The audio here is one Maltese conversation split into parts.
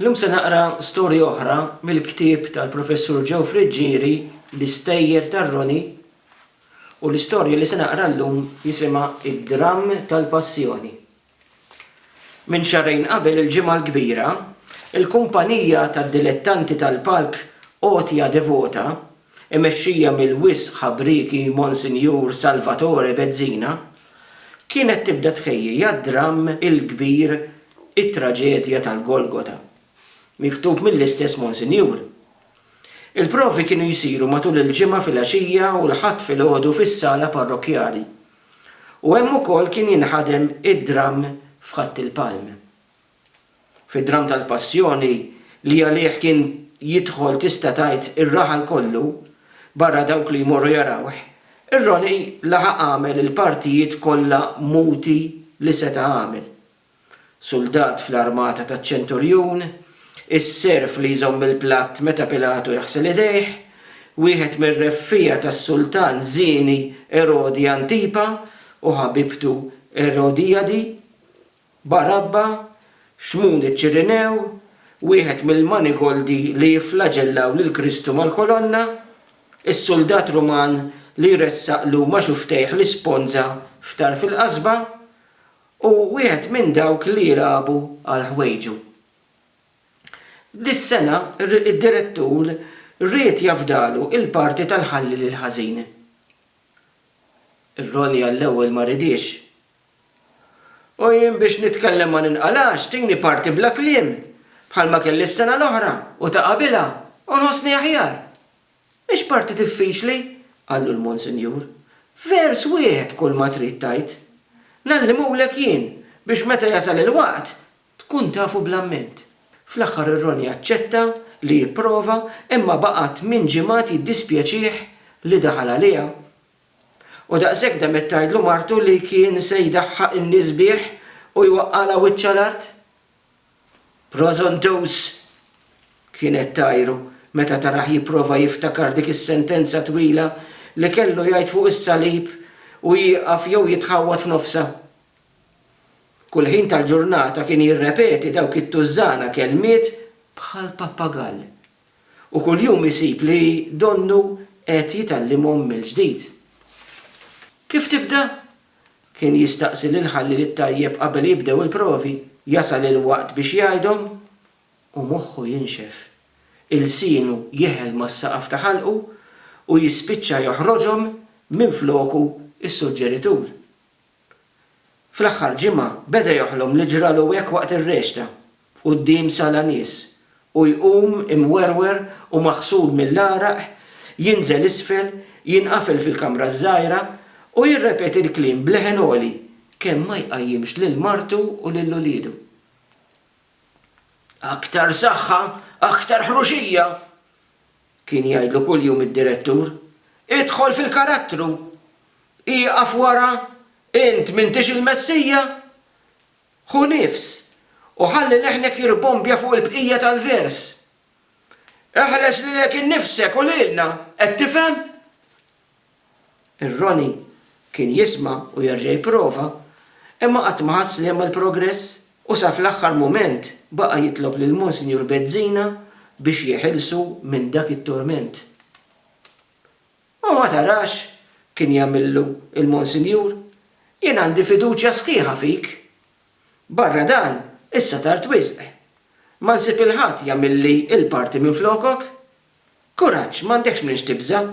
Llum se naqra storja oħra mill-ktieb tal-Professur Joe Friggieri L-Istejjer tar-Roni u l-istorja li se naqra llum jisimha Id-Dramm tal-Passjoni. Minn xahrejn qabel il-Ġimgħa l-Kbira, il-kumpanija tad-dilettanti tal-palk Għotja Devota, imexxija mill-wisq ħabrieki Monsinjur Salvatore Bezzina, kienet tibda tħejji għad-dramm il-kbir It-Traġedja tal-Golgota, miktub mill-istess Monsinjur. Il-provi kienu jsiru matul il-Ġimgħa filgħaxija u l-Ħadd filgħodu fis-sala parrokkjali, u hemm ukoll kien jinħadem id-dramm f'Ħadd il-Palm. fid-dramm tal-Passjoni li għalih kien jidħol tista' tgħid ir-raħal kollu, barra dawk li jmorru jarawh, ir-Roni laħaq għamel il-partijiet kollha muti li seta' għamel. Suldat fl-armata taċ-ċenturjun, is-serv li jżomm il-platt meta Pilatu jaħsel idejh, wieħed mir-reffiegħa tas-sultan żieni Erodi Antipa u ħabibtu Erodijadi, Barabba, Xmun iċ-Ċirinew, wieħed mill-manigoldi li jifflaġellaw lil Kristu mal-kolonna, is-suldat Ruman li jressaqlu ma' xuftejh l-isponża f'tarf il-qasba, u wieħed minn dawk li jilagħbu għal ħwejġu. Dis-sena d-direttur ried jafdalu l-parti tal-Ħalli lil Ħażin. Ir-Ronnie għall-ewwel ma ridiex. U jien biex nitkellem ma ninqalax, tini parti bla kliem, bħalma kelli s-sena l-oħra u ta' qabilha, u nħossni aħjar. Mhix parti diffiċli, qallu l-Monsinjur. Vers wieħed kulma trid tgħid. Ngħallimulek jien biex meta jasal il-waqt tkun tafu bl-amment. Fl-aħħar ir-Roni aċċetta li jipprova imma baqa' tmien ġimgħat jiddispjaċih li daħal għaliha. U daqshekk demet tgħidlu martu li kien se jdaħħaq in-nies bih u jwaqqagħlha wiċċha l-art? Prożontuż! kienet tgħajru meta tarah jipprova jiftakar dik is-sentenza twila li kellu jgħid fuq is-salib u jieqaf jew jitħawwad f'nofsha. Kull ħin tal-ġurnata kien jirrepeti dawk it-tużżana kelmiet bħal pappagall. U kuljum isib li donnu qed jitgħallimhom mill-ġdid. Kif tibda? kien jistaqsi lil Ħalliel it-Tajjeb qabel jibdew il-provi. Jasal il-waqt biex jgħidhom u moħħu jinxef. Ilsienu jeħel mas-saqaf ta' ħalqu u jispiċċa joħroġhom minfloku s-suġġeritur. Fl-aħħar ġimgħa beda joħlom li ġralu hekk waqt ir-rexta, quddiem sala nies, u jqum imwerwer u maħsul mill-għaraq, jinżel isfel, jinqafel fil-kamra ż-żgħira, u jirrepeti l-kliem b'leħen għoli kemm ma jqajjimx lil martu u lil uliedu. Aktar saħħa, aktar ħruxija! Kien jgħidlu kuljum id-direttur, Idħol fil-karattru! Ieqaf wara! Int m'intix il-Messija? Ħu nifs, u ħalli leħnek jirbombja fuq il-bqija tal-vers. Eħles lilek innifsek u lilna, qed tifhem? Ir-Ronnie kien jisma' u jerġa' jipprova, imma qatt ma ħass li għamel progress u sa fl-aħħar mument baqa' jitlob lil Monsinjur Bezzina biex jeħilsu minn dak it-turment. U ma tarax, kien jagħmillu l-Monsinjur, jien għandi fiduċja sħiħa fik. Barra dan, issa tard wisq. Ma nsib il-ħadd jagħmilli l-parti minflokok. Kuraġġ, m'għandekx minn x'tibża'.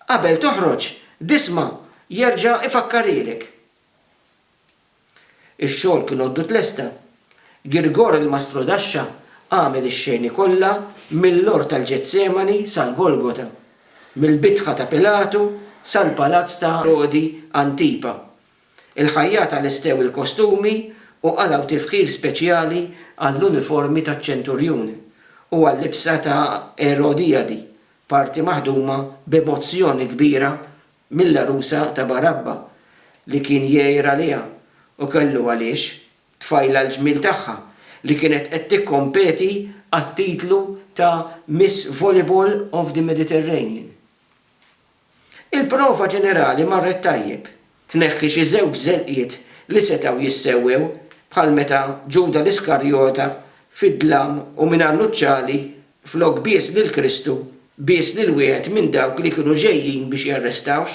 Qabel toħroġ, disma' jerġa' ifakkarielek. Ix-xogħol kien għoddu tlesta. Girgor il-mastru daxxa għamel ix-xeni kollha mill-għor tal-Ġetsemani sal-Golgota, mill-bitħa ta' Pilatu sal-palazz ta' Erodi Antipa, Il-ħajjat għalestew il-kostumi u qalgħu tifħir speċjali għall-uniformi taċ-ċenturjun u għal-libsa ta' Erodijadi, parti maħduma b'emozzjoni kbira mill-għarusa ta' Barabba, li kien jgħir għaliha, u kellu għaliex, tfajla l-ġmiel tagħha, li kienet qed tikkompeti għat-titlu ta' Miss Volleyball of the Mediterranean. Il-prova ġenerali marret tajjeb, tneħħi xi żewġ żelqiet li setgħu jissewwew bħal meta Ġuda l-Iskarjota fid-dlam u mingħajr nuċċali flok bies lil Kristu bies lil wieħed minn dawk li kienu ġejjin biex jarrestawh.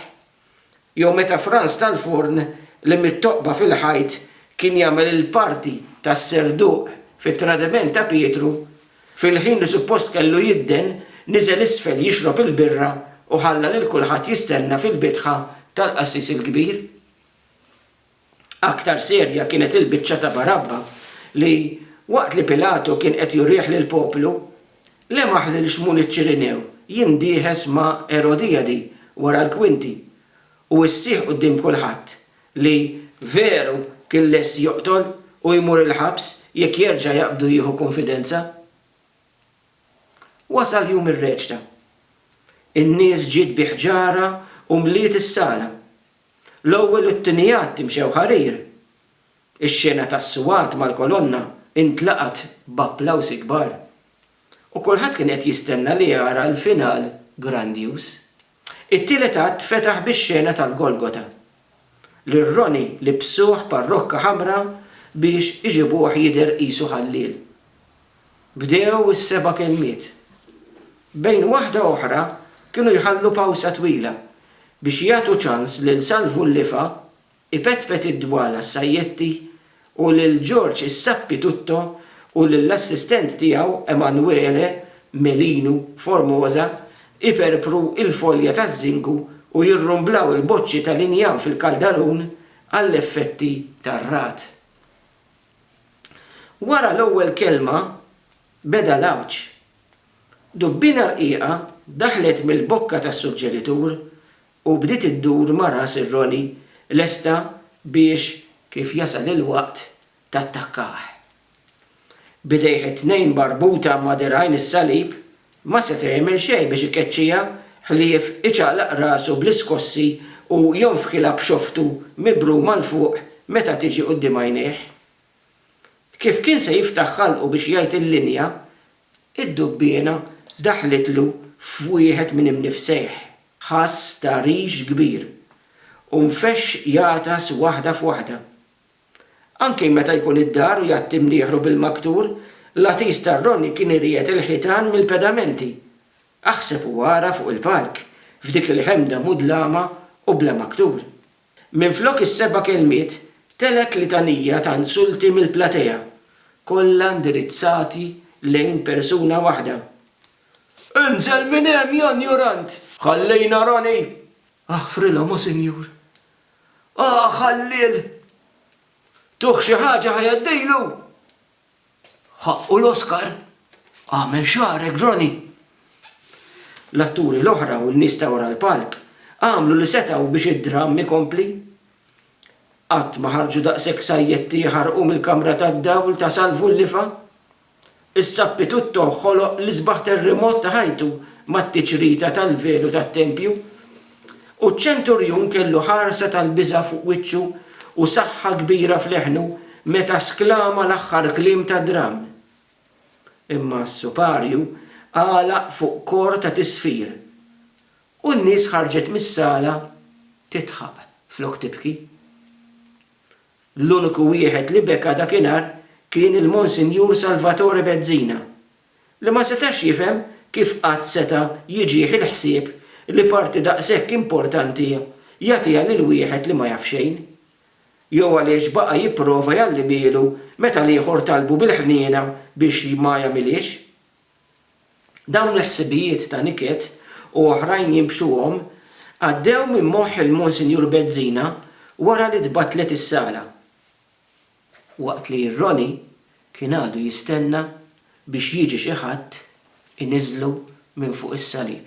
Jew meta Franz tal-Forn li mit-toqba fil-ħajt kien jagħmel il-parti tas-serduq fit-tradiment ta' Pietru Fil-ħin li suppost kellu jidden, niżel isfel jixrob il-birra u ħalla lil kulħadd jistenna fil-bitħa tal-qassis il-kbir. Aktar serja kienet il-biċċa ta' Barabba li, waqt li Pilatu kien qed jurih lill-poplu, lemaħ lil Xmun iċ-Ċirinew jindieħes ma' Erodijadi wara l-kwinti u issieħ quddiem kulħadd li veru kien lest joqtol u jmur il-ħabs jekk jerġa' jaqbdu jieħu kunfidenza. Wasal jum ir-reċta. In-nies ġiet bi ħġarha u mliet is-sala. L-ewwel u t-tieni att imxew ħarir. Ix-xena tas-suwat mal-kolonna intlaqgħet b'applawsi kbar. U kulħadd kien qed jistenna li jara l-final grandjuż. It-tielet att fetaħ bix-xena tal-Golgota, li r-roni libbsuh parrokka ħamra biex iġibuh jidher qisu ħalliel. Bdew is-seba' kelmiet. Bejn waħda oħra kienu jħallu pawsa twila biex jagħtu ċans lil Salvu l-Lifa Ipetpet id-dwala s-sajjetti u lil George is-sappitutto u lill-assistent tiegħu Emanuele Melinu Formosa iperpru l-folja taż-żingu u jirrumblaw il-boċċi tal-injam fil-kaldarun għall-effetti tar-ragħad. Wara l-ewwel kelma beda l-għawġ. Dubbiena rqiqa daħlet mill-bokka tas-suġġeritur U bdiet iddur ma' ras ir-roli lesta biex kif jasal il-waqt tattakkah. B'idejh it-tnejn marbuta ma' dirgħajn is-salib, ma seta' jagħmel xejn biex ikeċċiha ħlief iċaqlaq rasu bl-iskossi u jonfħilha b'xoftu mibruma 'l fuq meta tiġi quddiem għajnejh. Kif kien se jiftaħ ħalqu biex jgħid il-linja, id-dubbiena daħlitlu f'wieħed minn imnifsejh. Ħass ta' rix kbir u nfexx jagħtas waħda f'waħda. Anki meta jkun id-dar u jgħatti mnieħru bil-maktur, l-għatis ta' Ronnie kien iriegħed il-ħitan mill-pedamenti. Aħseb u ara fuq il-palk, f'dik il-ħemda mudlama u bla maktur. Minflok is-seba' kelmiet, telgħet litanija ta' insulti mill-platea, kollha indirizzati lejn persuna waħda. Inżel minn hemm, ja njurant! Ħallina, Ronnie! Aħfrilhom, o Sinjur! Aħ, Ħalliel! Tuh xi ħaġa ħa jgħaddejlu! Ħaqqu l-Oscar? Agħmel xagħrek Johnny! L-atturi l-oħra u n-nies ta' wara l-palk għamlu li setgħu biex id-dramm ikompli. Qatt ma ħarġu daqshekk sajjetti jħarrqu mill-kamra tad-dawl ta' Salvu l-Lifa. Is-sappi Tutto ħoloq l-isbaħ terrimot ta' ħajtu mat-tiċrita tal-velu tat-tempju. U ċ-ċenturjun kellu ħarsa tal-biża' fuq wiċċu u saħħa kbira f'leħnu meta sklama l-aħħar kliem tad-dramm. Imma s-suparju għalaq fuq kor ta' tisfir, u n-nies ħarġet mis-sala tidħaq flok tibki. L-uniku wieħed li beka dakinhar kien il-Monsinjur Salvatore Bezzina, li ma setax jifhem kif qatt seta' jiġih il-ħsieb li parti daqshekk importanti jagħtiha lil wieħed li ma jaf xejn. Jew għaliex baqa' jipprova jgħalli bielu meta l-ieħor talbu bil-ħniena biex ma jagħmilhiex. Dawn il-ħsibijiet ta' niket u oħrajn jinbxuhom għaddew minn moħħ il-Monsinjur Bezzina wara li tbattlet is-sala. Waqt li Ronnie kien għadu jistenna biex jiġi xi ħadd iniżżlu minn fuq is-salib.